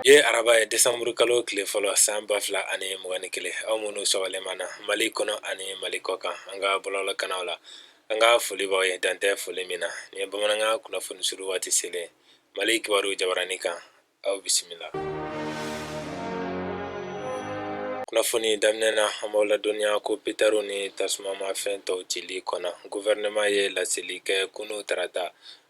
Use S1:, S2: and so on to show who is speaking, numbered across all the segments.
S1: ye araba ye desanburu kalo tile fɔlɔ san ba fila ani mugan ni kelen aw minnu sɔgɔlen b'an na mali kɔnɔ ani mali kɔkan an ka bɔlɔlɔ kanaw la an ka foli b'aw ye dan tɛ foli min na nin ye bamanankan kunnafoni suru waati selen mali kibaru jabaranin kan aw bisimila kunnafoni daminɛ na an b'aw ladɔnniya ko petarw ni tasumamafɛn tɔw cili kɔnna guvɛrɛnɛman ye laseli kɛ kunu tarata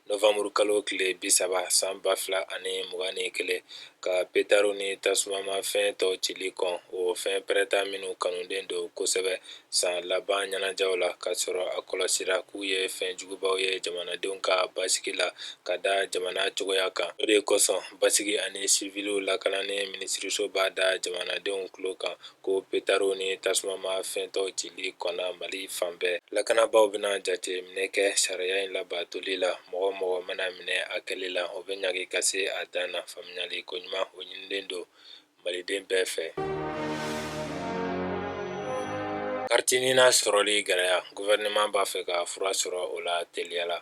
S1: novanburu kalo tile bi saba san ba fila ani mugan ni kelen ka petarw ni tasumamafɛn tɔw cili kɔn o fɛn pɛrɛnta minnu kanulen don kosɛbɛ san laban ɲɛnajɛw la k'a sɔrɔ a kɔlɔsira k'u ye fɛn jugubaw ye jamanadenw ka basigi la ka da jamana cogoya kan o de kosɔn basigi ani siviliw lakanani minisiriso b'a da jamanadenw tulo kan ko petarw ni tasumamafɛn tɔw cili kɔnna mali fan bɛɛ lakanabaaw bɛna jateminɛ kɛ sariya in labatoli la mɔgɔ o mɔgɔ mana minɛ a kɛli la o bɛ ɲangi ka se a dan na faamuyali koɲuman o ɲinilen don maliden bɛɛ fɛ kariti nina sɔrɔli gɛlɛya gouvernement b'a fɛ ka fura sɔrɔ o la teliya la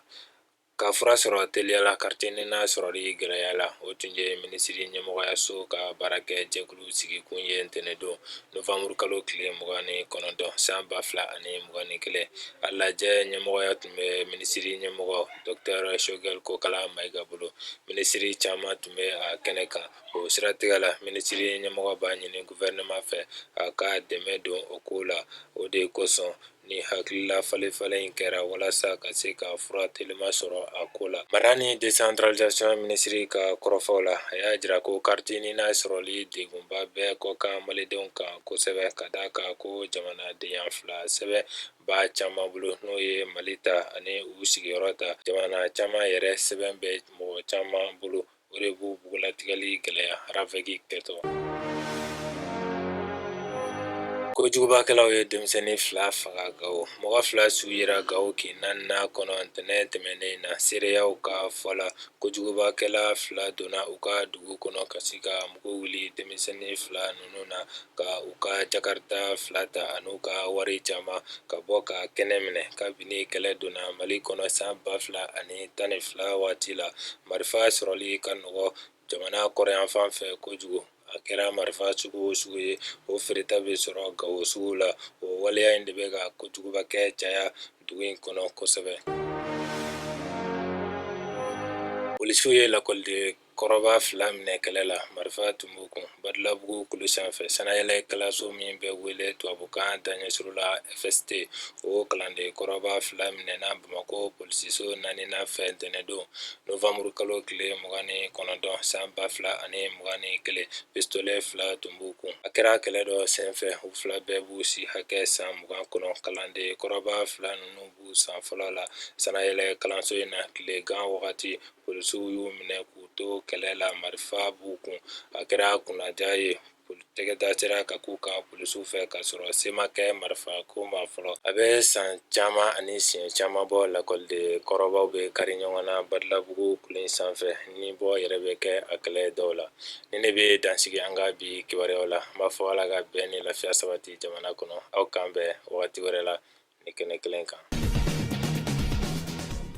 S1: ka fura sɔrɔ teliya la kariti nina sɔrɔli gɛlɛya la o tun ye minisiri ɲɛmɔgɔyaso ka baarakɛ jɛkulu sigikun ye ntɛnɛn don novembre kalo tile mugan ni kɔnɔntɔn san ba fila ani mugan ni kelen a lajɛ ɲɛmɔgɔya tun bɛ minisiri ɲɛmɔgɔ docteur shogɛl kokala mayiga bolo minisiri caman tun bɛ a kɛnɛ kan o siratigɛ la minisiri ɲɛmɔgɔ b'a ɲini gouvernement fɛ a ka dɛmɛ don o ko la o de kosɔn nin hakilila falefalen in kɛra walasa ka se ka fura telima sɔrɔ a ko la mara ni decentralisation minisiri ka kɔrɔfɔw la a y'a jira ko kariti nina sɔrɔli degunba bɛ kɔkan malidenw kan kosɛbɛ ka da a kan ko jamanadenya fila sɛbɛn b'a caman bolo n'o ye mali ta ani u sigiyɔrɔ ta jamana caman yɛrɛ sɛbɛn bɛ mɔgɔ caman bolo o de b'u bugunnatigɛli gɛlɛya ravɛki kɛtɔ kojugubakɛlaw ye denmisɛnnin fila faga gawo mɔgɔ fila su yera gawo kin naaninan kɔnɔ ntɛnɛn tɛmɛnen na seereyaw ka fɔ la kojugubakɛla fila donna u ka dugu kɔnɔ ka sin ka mugu wuli denmisɛnnin fila ninnu na ka u ka jakarita fila ta ani u ka wari caman ka bɔ ka kɛnɛ minɛ kabini kɛlɛ donna mali kɔnɔ san ba fila ani tan ni fila waati la marifa sɔrɔli ka nɔgɔ jamana kɔrɔnyanfan fɛ kojugu a kɛra marifa sugu o sugu ye o feereta bɛ sɔrɔ gawo sugu la o waleya in de bɛ ka kojugubakɛ caya dugu in kɔnɔ kosɛbɛ polisiw ye lakɔliden kɔrɔba fila minɛ kɛlɛ la marifa tun b'u kun badalabugu kulu sanfɛ sanayɛlɛ kalanso min bɛ wele tubabukan daɲɛsurun la fst o kalanden kɔrɔba fila minɛna bamakɔ polisiso naaninan fɛ ntɛnɛndon nowanburu kalo tile mugan ni kɔnɔntɔn san ba fila ani mugan ni kelen pistolɛ fila tun b'u kun a kɛra kɛlɛ dɔ senfɛ u fila bɛɛ b'u si hakɛ san mugan kɔnɔ kalanden kɔrɔba fila ninnu b'u san fɔlɔ la sanayɛlɛ kalanso in na tilegan wagati Polisiw y'u minɛ k'u to kɛlɛ la marifa b'u kun a kɛra kunnadiya ye tɛgɛ da sera ka k'u kan polisiw fɛ ka sɔrɔ se ma kɛ marifa ko ma fɔlɔ a bɛ san caman ani siɲɛ caman bɔ lakɔliden kɔrɔbaw bɛ kari ɲɔgɔn na badalabugu kulu in sanfɛ nibɔ yɛrɛ bɛ kɛ a kɛlɛ dɔw la nin de bɛ dan sigi an ka bi kibaruyaw la n b'a fɔ ala ka bɛn ni lafiya sabati jamana kɔnɔ aw k'an bɛn wagati wɛrɛ la nin kɛnɛ kelen kan